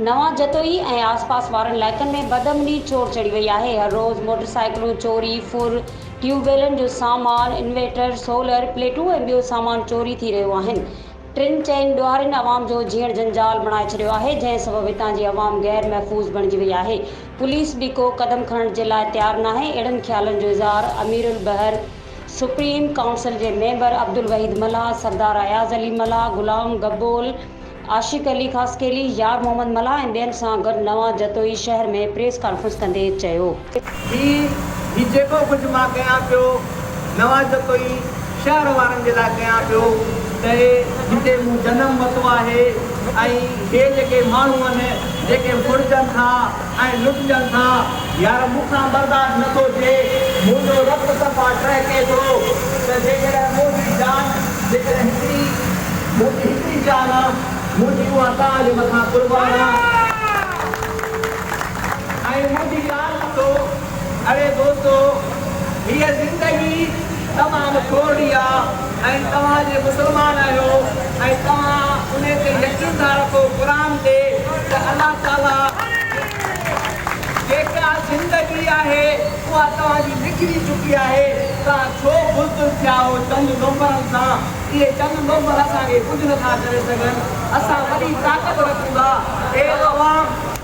نوان جتوئي ۽ آس پاس وارن علائقن ۾ بدامني چور چڙهي وئي آهي، هر روز موٽر سائيڪلون چوري، ڦر، ٽيوب ويلن جو سامان، انويٽر، سولر پليٽون ۽ ٻيو سامان چوري ٿي رهيو آهن، ٽن چئن ڏوهارين عوام جو جيئڻ جنجال بڻائي ڇڏيو آهي جنهن سبب هتان جي عوام غير محفوظ بڻجي وئي آهي پوليس به ڪو قدم کڻڻ جي لاء تيار ناهي اهڙن خيالن جو اظهار اميرالبحر سپريم ڪائونسل جي ميمبر عبدالوحيد ملاح سردار اياز علي ملاح غلام گبول عاشق علي خاصخيلي يار محمد ملاح ۽ ٻين سان گڏ نوان جتوئي شهر ۾ پريس ڪانفرنس ڪندي چيو. هي هي جيڪو ڪجهه مان ڪيان پيو، نواز جو ڪوئي شهر وارن جي لاء ڪيان پيو ته جتي مون جنم ورتو آهي ۽ هي جيڪي ماڻهو آهن جيڪي ڦڙجن ٿا ۽ لٽجن ٿا يار مون کان برداشت نه ٿو ٿئي منهنجو رت صفا ٽهڪي ٿو ته جيڪڏهن منهنجي جان جيڪڏهن هڪڙي منهنجي هڪڙي جان آ منهنجي اها توهان جي مٿان قربان آ. ۽ مون جي ڳالهه ٻڌو، اڙي دوستو، هيء زندگي تمام ڪورڙي آ ۽ توهان جي مسلمان آهيو ۽ توهان ان تي يقين ٿا رکو قرآن تي ته الله تعاليٰ جيڪا زندگي آهي اها توهان جي لکجي چڪي آهي، توهان ڇو بزدل ٿيا آهو چند نوڪرن سان، اهي چند نوڪر اسان کي ڪجهه نٿا ڪري سگهن، اسان وڏي طاقت رکون ٿا، اي عوام!